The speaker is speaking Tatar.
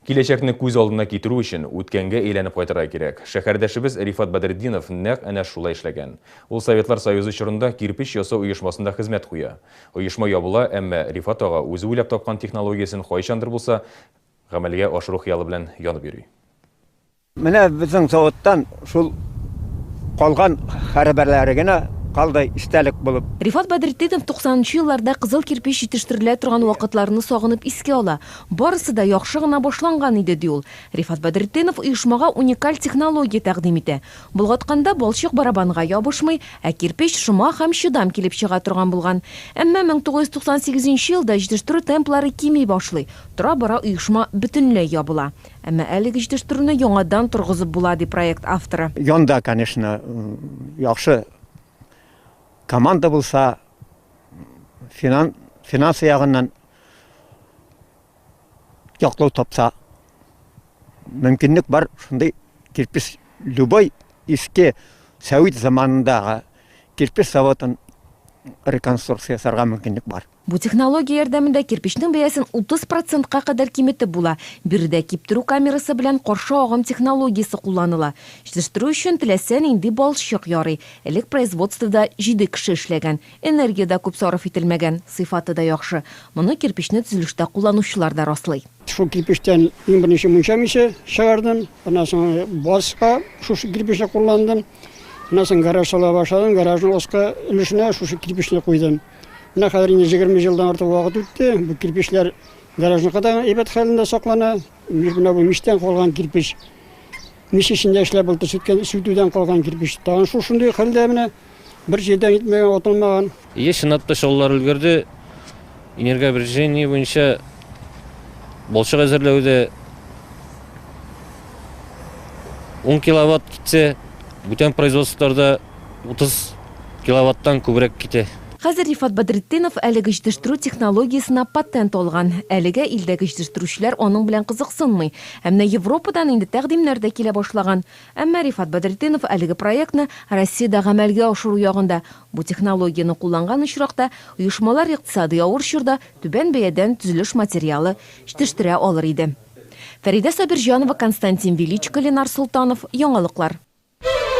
Киләчәкне күз алдына китерү өчен, үткәнгә әйләнеп кайтырга кирәк. Шәһәрдәшебез Рифат Бәдретдинов нәкъ әнә шулай эшләгән. Ул Советлар Союзы чорында кирпеч ясау оешмасында хезмәт куя. Оешма ябыла, әмма Рифат ага үзе уйлап тапкан технологиясен кайчандыр булса гамәлгә ашыру хыялы белән янып йөри. Менә безнең заводтан шул калган хәрабәләре генә калды истәлек булып. Рифат Бәдретдинов туксанынчы елларда кызыл кирпеч җитештерелә торган вакытларны сагынып искә ала. Барысы да яхшы гына башланган иде, ди ул. Рифат Бәдретдинов оешмага уникаль технология тәкъдим итә. Болгатканда балчык барабанга ябышмый, ә кирпеч шома һәм чыдам килеп чыга торган булган. Әмма 1998 нче елда җитештерү темплары кими башлый, тора-бара оешма бөтенләй ябыла. Әмма әлеге җитештерүне яңадан торгызып була, ди проект авторы. Янда, конечно, яхшы команда булса, финансы ягыннан яклау тапса, мөмкинлек бар, шундый кирпеч, любой иске сәвит заманындагы кирпеч заводын реконструкция ясарга мөмкинлек бар. Бу технология ярдәмендә кирпечнең бәясен 30 процентка кадәр киметеп була. Биредә киптерү камерасы белән каршы агым технологиясе кулланыла. Җитештерү өчен теләсә нинди балчык ярый. Элек производствода җиде кеше эшләгән. Энергия дә күп сарыф ителмәгән, сыйфаты да яхшы. Моны кирпечне төзелештә кулланучылар да раслый. Шул кирпечтән иң беренче мунча миче чыгардым. Аннан соң базга шушы кирпечне кулландым. Аннан соң гараж сала башладым. Гаражның аскы өлешенә шушы кирпечне куйдым. Менә хәзер инде җигерме елдан артык вакыт үтте. Бу кирпечләр гаражның кадагы әйбәт хәлендә саклана. Менә бу мичтән калган кирпеч. Мич эчендә эшләп булды, сүткән, сүтүдән калган кирпеч. Тагын шул шундый хәлдә менә бер җирдән итмәгән, атылмаган. Еш чынлатпа чалулар өлгерде. Энергообрежение буенча балчык әзерләүдә 10 киловатт китсә, бүтән производстволарда 30 киловаттан күбрәк китә. Хәзер Рифат Бәдретдинов әлеге җитештерү технологиясенә патент алган. Әлегә илдәге җитештерүчеләр аның белән кызыксынмый. Ә менә Европадан инде тәкъдимнәр дә килә башлаган. Әмма Рифат Бәдретдинов әлеге проектны Россиядә гамәлгә ашыру ягында. Бу технологияне кулланган очракта, оешмалар икътисадый авыр чорда түбән бәядән төзелеш материалы җитештерә алыр иде. Фәридә Сабирҗанова, Константин Величко, Ленар Солтанов, Яңалыклар.